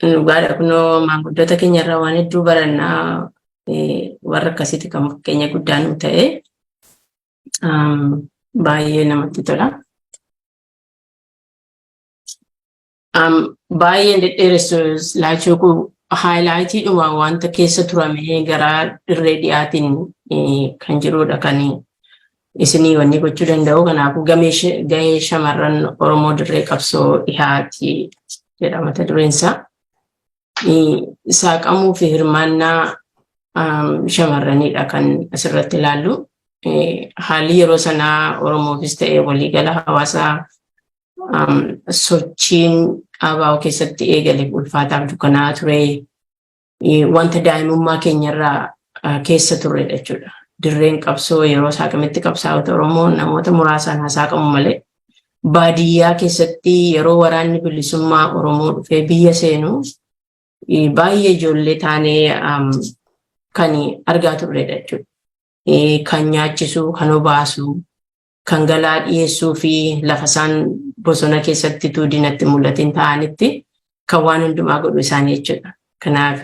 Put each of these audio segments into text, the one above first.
Dhugaadha kunoo maanguddoota keenya irraa waan hedduu barannaa warra akkasiiti kan fakkeenya guddaa nu ta'e baay'ee namatti tola. Baay'een dhedheeressu laachuu kun haayilaayitiidhuma wanta keessa turamee gara dirree dhiyaatiin kan jirudha kan isinii wanni gochuu danda'u kanaafuu gahee shamarran Oromoo dirree qabsoo dhihaati jedha mata dureen isaa. Saaqamuu fi hirmaannaa shamarraniidha kan asirratti ilaallu. Haalli yeroo sanaa Oromoofis ta'ee waliigala hawaasaa sochiin ABO keessatti eegale ulfaataaf dukkanaa ture. wanta daa'imummaa keenyarraa keessa turredha jechuudha. Dirreen qabsoo yeroo saaqamitti qabsaa'ota Oromoo namoota muraasaan hasaaqamu malee baadiyyaa keessatti yeroo waraanni bilisummaa Oromoo dhufee biyya seenu baay'ee ijoollee taanee kan argaa turredha jechuudha. Kan nyaachisu, kan obaasu, kan galaa dhiyeessuu fi lafa isaan bosona keessatti utuu diinatti mul'atiin ta'anitti kan waan hundumaa godhu isaanii jechuudha. Kanaaf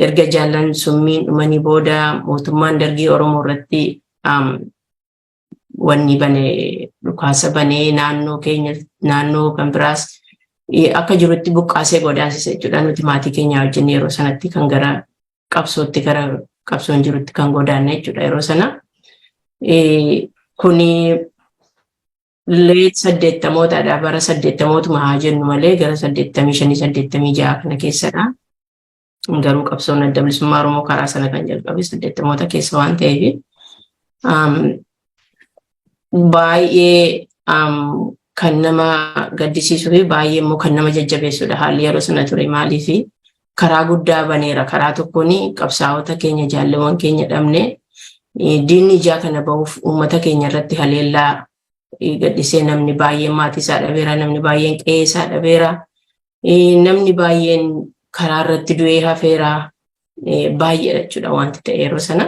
erga jaallan summiin dhumanii booda mootummaan dargii Oromoo irratti wanni bane dhukaasa banee naannoo keenya naannoo kan biraas akka jirutti buqqaasee godaansisa jechuudha. Nuti maatii keenya wajjin yeroo sanatti kan gara qabsootti gara qabsoon jirutti kan godaanne jechuudha yeroo sana. Kuni leet saddeettamootadha bara saddeettamootuma haa jennu malee gara saddeettamii shanii saddeettamii ja'a kana keessadha. Garuu qabsoon adda bilisummaa Oromoo karaa sana kan jalqabe saddeettamoota keessa waan ta'eef baay'ee kan nama gaddisiisuu fi baay'ee immoo kan nama jajjabeessudha haalli yeroo sana ture maaliifi karaa guddaa baneera. Karaa tokkoon qabsaa'ota keenya jaalleewwan keenya dhabne diinni ijaa kana bahuuf uummata keenya irratti haleellaa gadhisee namni baay'een maatii isaa dhabeera, namni baay'een qe'ee isaa dhabeera, namni baay'een karaa irratti du'ee hafeera baay'eedha jechuudha wanti ta'e yeroo sana.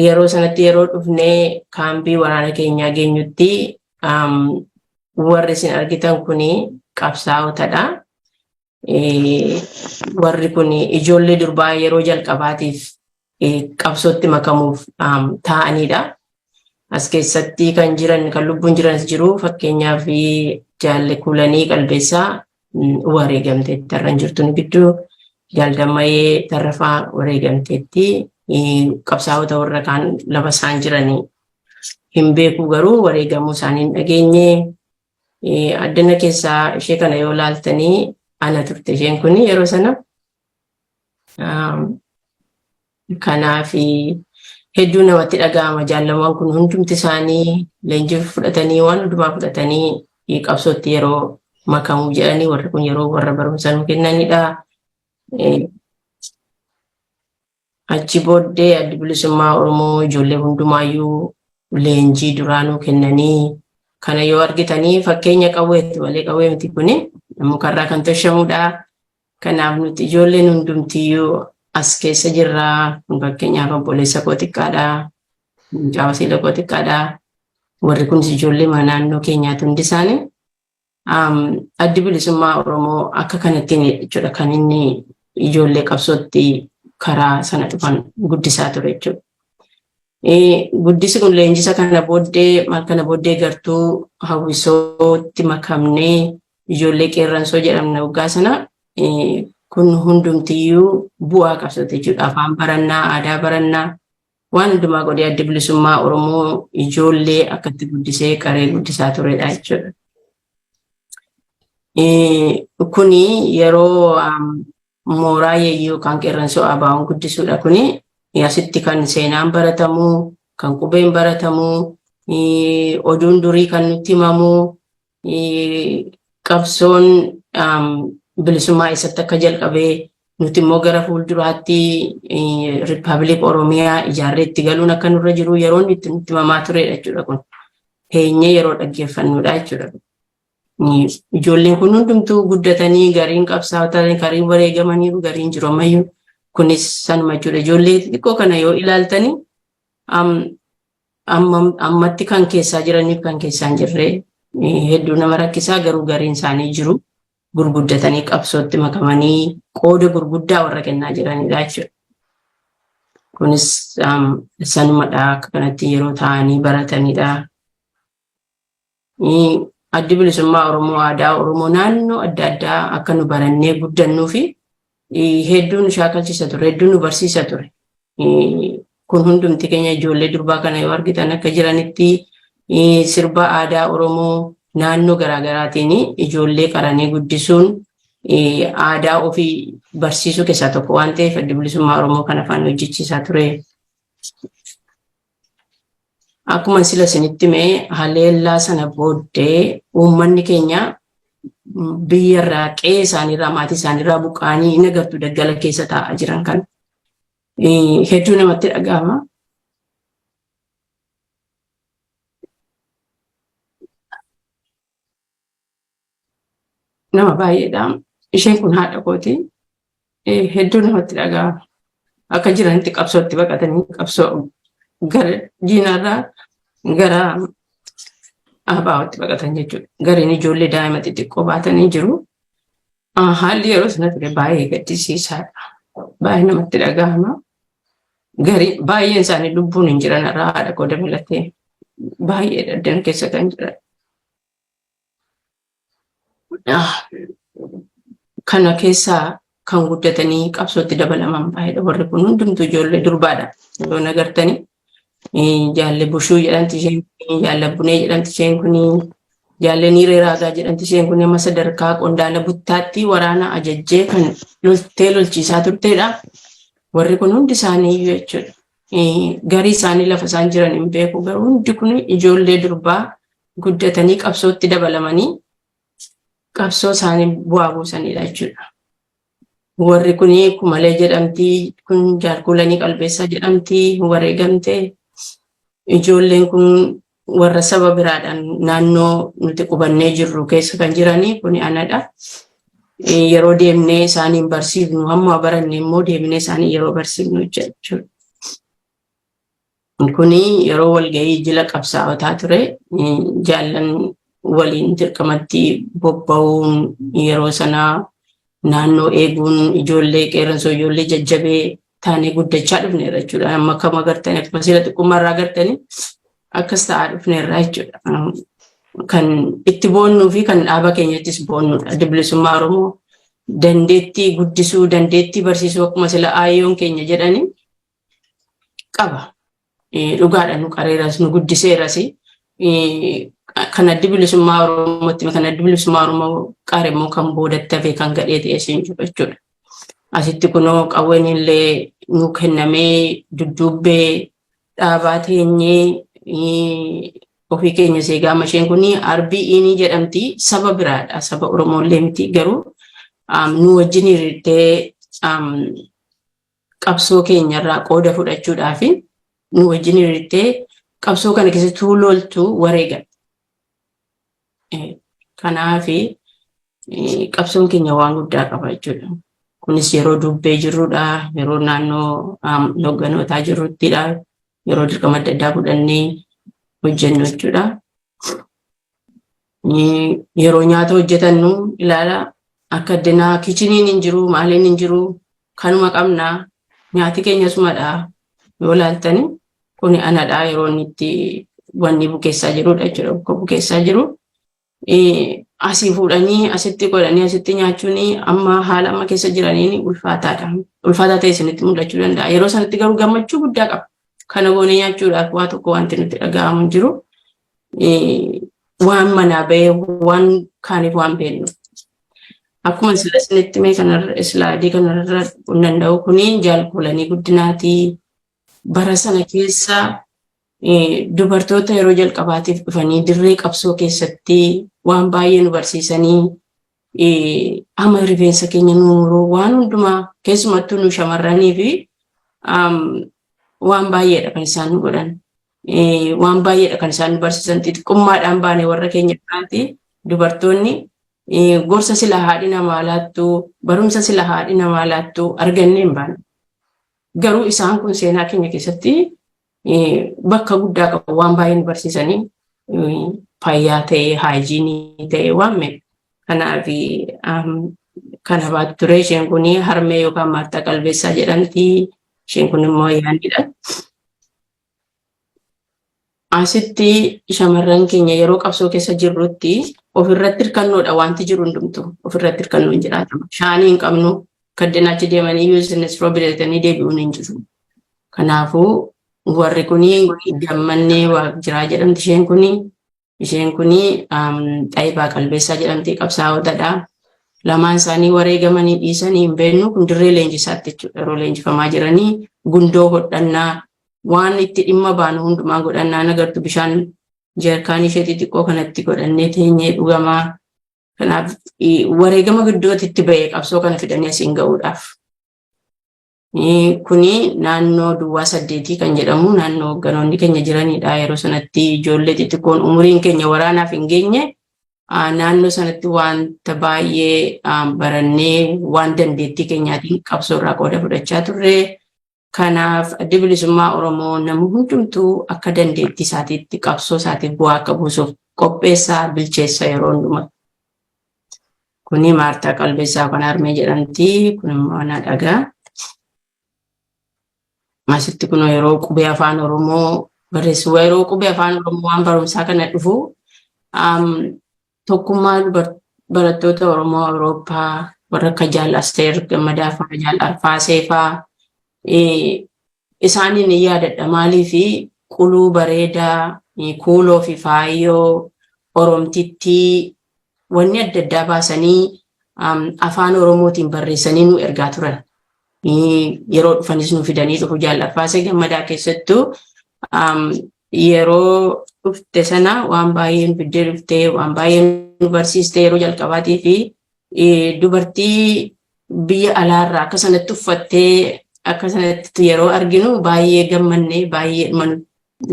Yeroo sanatti yeroo dhufnee kaambii waraana keenyaa geenyutti warri isin argitan kun qabsaa'otadha. Warri kun ijoollee durbaa yeroo jalqabaatiif qabsootti makamuuf taa'anidha. as keessatti kan jiran kan lubbuun jiranis jiru fakkeenyaaf jaalle kuulanii qalbeessaa wareegamteetti tarran jirtuun gidduu jaaldammayee tarrafaa wareegamteetti qabsaa'ota warra kaan lafa isaan jiranii hin beeku garuu wareegamuu isaanii hin dhageenye addana keessaa ishee kana yoo laaltanii ana turte isheen kun yeroo sana Kanaaf hedduu namatti dhaga'ama jaallamaan kun hundumti isaanii leenjii fudhatanii waan hundumaa fudhatanii qabsootti yeroo makamu jedhanii warri kun yeroo warra barumsa nu kennanidha. Achi booddee addi bilisummaa Oromoo ijoollee hundumaayyuu leenjii duraa nu kennanii kana yoo argitanii fakkeenya qawweetti malee qawwee miti kuni mukarraa kan toshamudha. Kanaaf nuti ijoolleen hundumtiyyuu as keessa jirra. Fakkeenyaaf obboleessa koo xiqqaadha. Mucaa wasiila koo xiqqaadha. Warri kunis ijoollee mana naannoo keenyaati hundi isaanii. Addi bilisummaa Oromoo akka kanattiin jechuudha kan inni ijoollee qabsootti karaa sana dhufan guddisaa ture jechuudha. Guddisi kun leenjisa kana booddee maal kana booddee gartuu hawwisootti makamnee ijoollee qeerransoo jedhamna waggaa sana kun hundumtiyyuu bu'aa qabsooti jechuudha. Afaan barannaa, aadaa barannaa, waan hundumaa godhee adda bilisummaa Oromoo ijoollee akkatti guddisee qaree guddisaa turedha jechuudha. Kuni yeroo mooraa yeeyyuu kan qeerransoo abaa'uun guddisuudha kuni asitti kan seenaan baratamu, kan qubeen baratamu, oduun durii kan nutti himamu, qabsoon bilisummaa eessatti akka jalqabe nuti immoo gara fuulduraatti Rippaabilik Oromiyaa ijaarree itti galuun akka nurra jiru yeroon itti nutti himamaa turedha jechuudha kun. Teenyee yeroo dhaggeeffannudha jechuudha. Ijoolleen kun hundumtuu guddatanii gariin qabsaa'otanii gariin wareegamaniiru gariin jiru ammayyuu kunis sanuma jechuudha. Ijoollee xixiqqoo kana yoo ilaaltanii Ammatti kan keessaa jiraniif kan keessaa hin jirre hedduu nama rakkisaa garuu gariin isaanii jiru. Gurguddatanii qabsootti makamanii qooda gurguddaa warra kennaa jiranidha jechuudha. Kunis sanumadha akka kanatti yeroo taa'anii baratanidha. Addi Bilisummaa Oromoo aadaa Oromoo naannoo adda addaa akka nu barannee guddannuu fi hedduu nu shaakalchiisa ture, hedduu nu barsiisa ture. Kun hundumti keenya ijoollee durbaa kana yoo argitan akka jiranitti sirba aadaa Oromoo naannoo garaagaraatiin ijoollee qaranee guddisuun aadaa ofii barsiisuu keessaa tokko waan ta'eef addi bilisummaa Oromoo kan afaan hojjechiisaa ture. Akkuma sila isinitti mee haleellaa sana booddee uummanni keenya biyyarraa qe'ee isaaniirraa maatii isaaniirraa buqqaanii hin agartu daggala keessa taa'aa jiran kan hedduu namatti dhaga'ama. nama baay'eedha. Isheen kun haadha kooti. Hedduu namatti dhaga'ama. Akka jiranitti qabsootti baqatanii qabsoo gara diinarraa gara abaa'ootti baqatan jechuudha. Gariin ijoollee daa'ima xixiqqoo baatanii jiru. Haalli yeroo sana ture baay'ee gaddisiisaadha. Baay'ee namatti dhaga'ama. Garii baay'een isaanii lubbuun hin jiran irraa haadha koo dabalatee baay'ee daddan keessa kan jiran. kana keessaa kan guddatanii qabsootti dabalaman baay'eedha. Warri kun hundumtu ijoollee durbaadha. Yoo nagartanii jaalle bushuu jedhamti isheen kun jaalle bunee jedhamti isheen kun jaalle niiree raagaa jedhamti isheen kun amma sadarkaa qondaala buttaatti waraana ajajjee kan loltee lolchiisaa turteedha. Warri kun hundi isaanii iyyuu jechuudha. Garii isaanii lafa isaan jiran hin beeku garuu hundi kun ijoollee durbaa guddatanii qabsootti dabalamanii qabsoo isaanii bu'aa buusanidha jechuudha. Warri kun kumalee jedhamti, kun jaalkuulanii qalbeessaa jedhamti, wareegamte. Ijoolleen kun warra saba biraadhaan naannoo nuti qubannee jirru keessa kan jiranii kun anadha. Yeroo deemnee isaaniin barsiifnu hamma baranne immoo deemnee isaanii yeroo barsiifnu jechuudha. Kuni yeroo walgahii jila qabsaa'otaa ture. Jaallan waliin dirqamatti bobba'uun yeroo sanaa naannoo eeguun ijoollee qeerransoo ijoollee jajjabee taanee guddachaa dhufneerra jechuudha. Amma kam agartanii akkuma siila xiqqummaa irraa agartanii akkas ta'aa dhufneerra jechuudha. Kan itti boonnuu fi kan dhaaba keenyattis boonnuudha. Addi Bilisummaa Oromoo dandeettii guddisuu, dandeettii barsiisuu akkuma sila aayyoon keenya jedhanii qaba. Dhugaadha nu qareeras nu guddiseeras kan addi bilisummaa Oromootti kan addi bilisummaa Oromoo qaare immoo kan boodatti hafee kan gadhee ta'e siin jiru jechuudha. Asitti kunoo qawween illee nu kennamee dudduubbee dhaabaa teenyee ofii keenya seegaa masheen kun arbii inii jedhamti saba biraadha saba Oromoo illee miti garuu nu wajjin hiriirtee qabsoo keenyarraa qooda fudhachuudhaaf nu wajjin hiriirtee qabsoo kana keessatti loltu wareegan. Kanaaf qabsoon keenya waan guddaa qaba jechuudha. Kunis yeroo dubbee jirrudha, yeroo naannoo hogganootaa jirruttidha, yeroo dirqama adda addaa fudhannee hojjennu jechuudha. Yeroo nyaata hojjetannu ilaala akka addunyaa kichiniin hin jiru maaliin hin jiru kanuma qabna nyaati keenya sumadha yoo laaltani kuni anadha yeroo inni itti wanni bukeessaa jirudha jechuudha bakka bukeessaa jiru. Asii fuudhanii asitti godhanii asitti nyaachuun amma haala amma keessa jiraniin ulfaataadha. Ulfaataa ta'e isinitti mul'achuu danda'a. Yeroo sanatti garuu gammachuu guddaa qaba. Kana goonee nyaachuudhaaf waa tokko wanti nutti dhaga'amu hin jiru. waan manaa bahee waan kaaniif waan beeknu. Akkuma sila isinitti mee kanarra islaadii kanarra kun danda'u kuni jaalkuulanii guddinaatii bara sana keessa dubartoota yeroo jalqabaatiif dhufanii dirree qabsoo keessatti waan baay'ee nu barsiisanii Qaama rifeensa keenya nu muruu waan hundumaa keessumattuu nu shamarranii fi waan baay'eedha kan isaan nu godhan. Waan baay'eedha kan isaan nu barsiisan xixiqqummaadhaan baane warra keenya biraatti dubartoonni gorsa sila haadhi namaa laattu barumsa sila haadhi namaa laattu argannee hin baane. Garuu isaan kun seenaa keenya keessatti bakka guddaa qabu waan baay'ee nu barsiisanii fayyaa ta'e haayijiinii ta'e waan meeqa kanaaf kan abaatu ture isheen kun harmee yookaan maartaa qalbeessaa jedhamti isheen kun immoo yaanidha. Asitti shamarran keenya yeroo qabsoo keessa jirrutti ofirratti hirkannoodha wanti jiru hundumtu ofirratti hirkannoo hin jiraatamu. Shaanii hin qabnu kaddinaachi deemanii yoo isin isroo bitatanii deebi'uun hin jiru. Kanaafuu warri kun gammannee jiraa jedhamti isheen kun isheen kun xayibaa qalbeessaa jedhamti qabsaa'ootadha. Lamaan isaanii wareegamanii dhiisanii hin beeknu kun dirree leenjisaatti jechuudha yeroo leenjifamaa jiranii gundoo hodhannaa waan itti dhimma baanu hundumaa godhannaa nagartu bishaan jeerkaanii ishee xixiqqoo kanatti godhannee teenyee dhugamaa kanaaf wareegama gidduutti itti ba'e qabsoo kana fidanii asiin ga'uudhaaf. Kuni naannoo duwwaa saddeetii kan jedhamu naannoo hoogganoonni keenya jiranidha. Yeroo sanatti ijoollee xixiqqoon umuriin keenya waraanaaf hin geenye naannoo sanatti wanta baay'ee barannee waan dandeettii keenyaatiin qabsoo irraa qooda fudhachaa turre. Kanaaf addi bilisummaa Oromoo namni hundumtuu akka dandeettii isaatiitti qabsoo isaatiif bu'aa akka buusuuf qopheessaa bilcheessa yeroo hundumaa. Kuni Maartaa Qalbeessaa kan harmee jedhamti. Kun immoo ana dhagaa. Asitti kun yeroo qubee afaan Oromoo barreessu yeroo qubee afaan Oromoo waan barumsaa kana dhufu tokkummaa barattoota Oromoo Awurooppaa warra akka Jaal Asteer Gammadaa fa'aa Jaal Arfaasee fa'aa isaaniin ni yaadadha maaliif quluu bareedaa kuuloo fi faayoo Oromtittii wanni adda addaa baasanii afaan Oromootiin barreessanii nu ergaa turan. Yeroo dhufanis nu fidanii dhufu jaal'affaasee gammadaa keessattuu yeroo dhufte sana waan baay'ee nu fiddee dhufte waan baay'ee nu barsiiste yeroo jalqabaatii fi dubartii biyya alaarraa akka sanatti uffattee akka sanatti yeroo arginu baay'ee gammannee baay'ee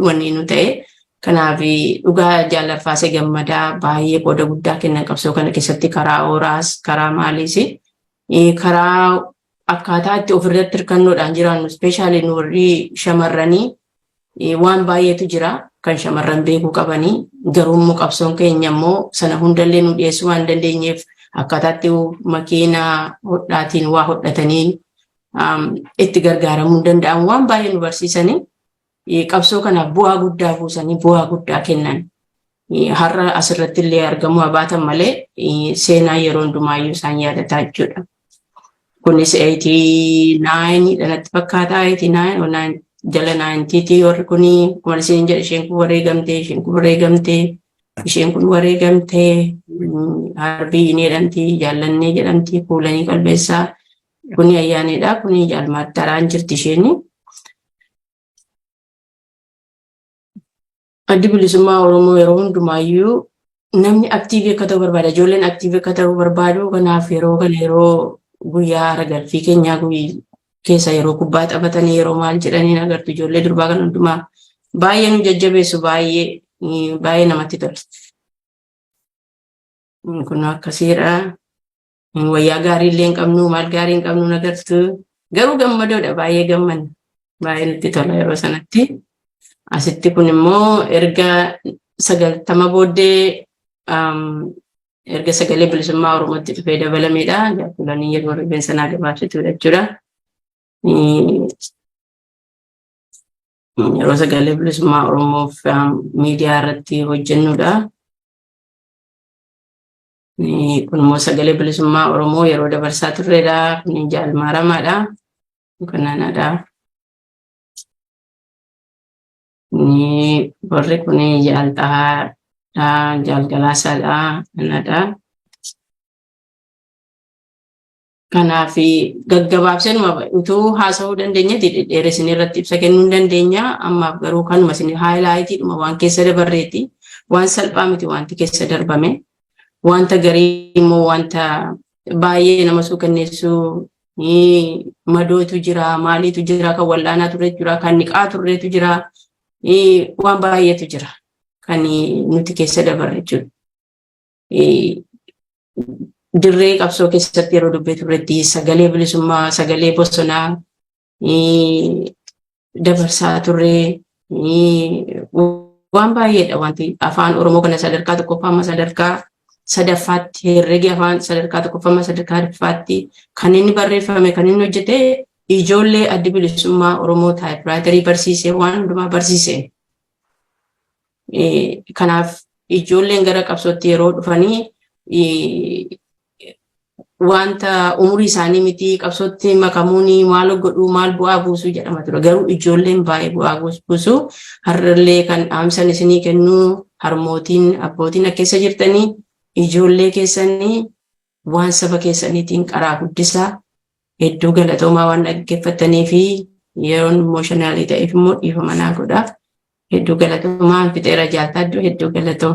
wanni nu ta'e. Kanaaf dhugaa jaalarfaasee gammadaa baay'ee qooda guddaa kennan qabsoo kana keessatti karaa ooraas karaa maaliis karaa akkaataa itti ofirratti hirkannoodhaan jiraannu ispeeshaalii nu warri shamarranii waan baay'eetu jira kan shamarran beekuu qabanii garuummoo qabsoon keenya immoo sana hundallee nu dhiyeessuu waan dandeenyeef akkaataatti makiinaa hodhaatiin waa hodhatanii itti gargaaramuu danda'an waan baay'ee nu barsiisanii qabsoo kanaaf bu'aa guddaa buusanii bu'aa guddaa kennan har'a asirratti illee argamuu abaatan malee seenaa yeroo hundumaayyuu isaan yaadataa jechuudha. Kunis 89 dhanatti fakkaata 89 jala 90 warri kun akkuma isin jedhe isheen kun wareegamte isheen kun wareegamte isheen kun wareegamte harbii hin jedhamti jaallannee jedhamti kuulanii qalbeessaa Kuni ayyaanidha. Kuni jaalmaatti taraan jirti isheen. Addi bilisummaa Oromoo yeroo hundumaayyuu namni aktiivii akka ta'u barbaada. Ijoolleen aktiivii akka ta'u barbaadu. Kanaaf yeroo kana yeroo guyyaa ragalfii keenyaa keessa yeroo kubbaa taphatanii yeroo maal jedhanii agartu ijoollee durbaa kan hundumaa baay'ee nu jajjabeessu baay'ee baay'ee namatti tola. Kun akkasiidha. Hin wayyaa gaarii illee hin qabnu maal gaarii hin qabnu nagartu garuu gammadoodha baay'ee gammanna baay'ee nutti tola yeroo sanatti asitti kun immoo erga sagaltama booddee um, erga sagalee bilisummaa oromootti dhufee dabalameedha jaakulanii yeroo rifeensa naa gabaabsituudha jechuudha. Mm, Yeroo sagalee bilisummaa oromoof um, miidiyaa irratti hojjennudha. Kun immoo sagalee bilisummaa Oromoo yeroo dabarsaa turredha. Kun jaal maaramaadha. Kanaanadha. Warri kun jaal xahaadha. Jaal galaasaadha. Kanaadha. Kanaaf gaggabaabsee utuu haasa'uu dandeenyetti dhedheeressinee irratti ibsa kennuu hin dandeenya. Ammaaf garuu kanuma isin haayilaayitiidhuma waan keessa dabarreeti. Waan salphaa miti wanti keessa darbame. Wanta garii immoo wanta baay'ee nama suukanneessuu madootu jira, maaliitu jira, kan wal'aanaa turretu jira, kan niqaa turretu jira, waan baay'eetu jira kan nuti keessa dabarre jechuudha. dirree qabsoo keessatti yeroo dubbee turretti sagalee bilisummaa sagalee bosonaa dabarsaa turre waan baay'eedha wanti afaan oromoo kana sadarkaa tokkoffaa amma sadarkaa sadaffaatti herregi afaan sadarkaa tokkoffaa amma sadarkaa sadaffaatti kan inni barreeffame kan inni hojjete ijoollee addi bilisummaa oromoo taayipiraayitarii barsiisee waan hundumaa barsiiseen Kanaaf ijoolleen gara qabsootti yeroo dhufanii wanta umurii isaanii miti qabsootti makamuun maal godhuu maal bu'aa buusuu jedhama ture. Garuu ijoolleen baay'ee bu'aa buusuu har'allee kan dhaamsan isinii kennuu harmootiin abbootiin akka keessa jirtanii ijoollee keessanii Waan saba keessaniitiin qaraa guddisaa. Hedduu galatoomaa waan dhaggeeffattanii fi yeroon imooshanaali ta'eef immoo dhiifama naa godha. Hedduu galatoomaa fixeera jaaltaaddu hedduu galatoo.